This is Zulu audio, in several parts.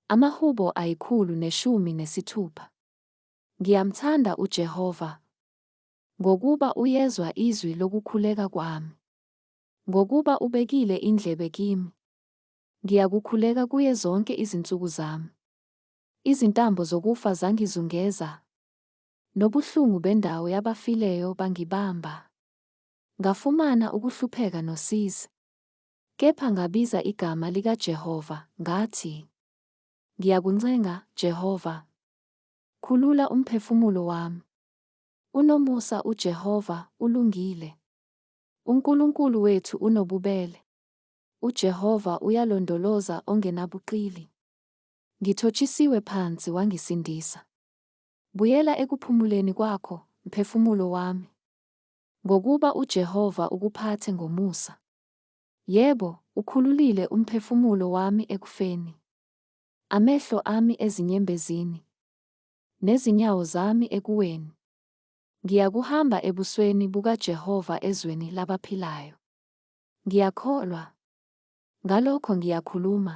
Amahubo ayikhulu neshumi nesithupha. Ngiyamthanda uJehova, Ngokuba uyezwa izwi lokukhuleka kwami, Ngokuba ubekile indlebe kimi, Ngiyakukhuleka kuye zonke izinsuku zami. Izintambo zokufa zangizungeza, Nobuhlungu bendawo yabafileyo bangibamba. Ngafumana ukuhlupheka nosizi, Kepha ngabiza igama likaJehova, ngathi, Ngiyakuncenga, Jehova, khulula umphefumulo wami. Unomusa uJehova, ulungile. UNkulunkulu wethu unobubele. UJehova uyalondoloza ongenabuqili. Ngithotshisiwe phansi wangisindisa. Buyela ekuphumuleni kwakho, mphefumulo wami. Ngokuba uJehova ukuphathe ngomusa. Yebo, ukhululile umphefumulo wami ekufeni, amehlo ami ezinyembezini, nezinyawo zami ekuweni. Ngiyakuhamba ebusweni bukaJehova ezweni labaphilayo. Ngiyakholwa. Ngalokho ngiyakhuluma.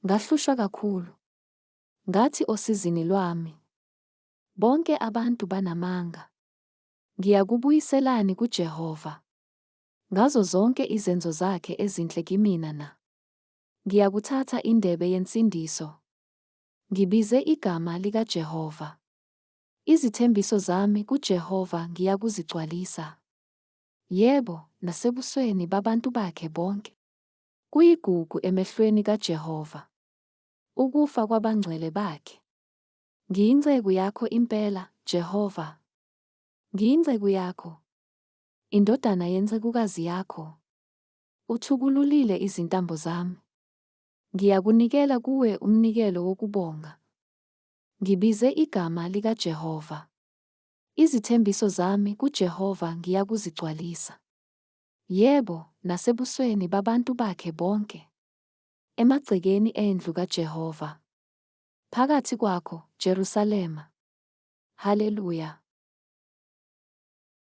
Ngahlushwa kakhulu. Ngathi osizini lwami, Bonke abantu banamanga. Ngiyakubuyiselani kuJehova? Ngazo zonke izenzo zakhe ezinhle kimina na? Ngiyakuthatha indebe yensindiso. Ngibize igama likaJehova. Izithembiso zami kuJehova ngiyakuzigcwalisa. Yebo, nasebusweni babantu bakhe bonke. Kuyigugu emehlweni kaJehova. Ukufa kwabangcwele bakhe. Ngiyinceku yakho impela, Jehova. Ngiyinceku yakho. Indodana yencekukazi yakho. Uthukululile izintambo zami. Ngiyakunikela kuwe umnikelo wokubonga. Ngibize igama likaJehova. Izithembiso zami kuJehova ngiyakuzigcwalisa. Yebo, nasebusweni babantu bakhe bonke. Emagcekeni endlu kaJehova. Phakathi kwakho, Jerusalema. Haleluya!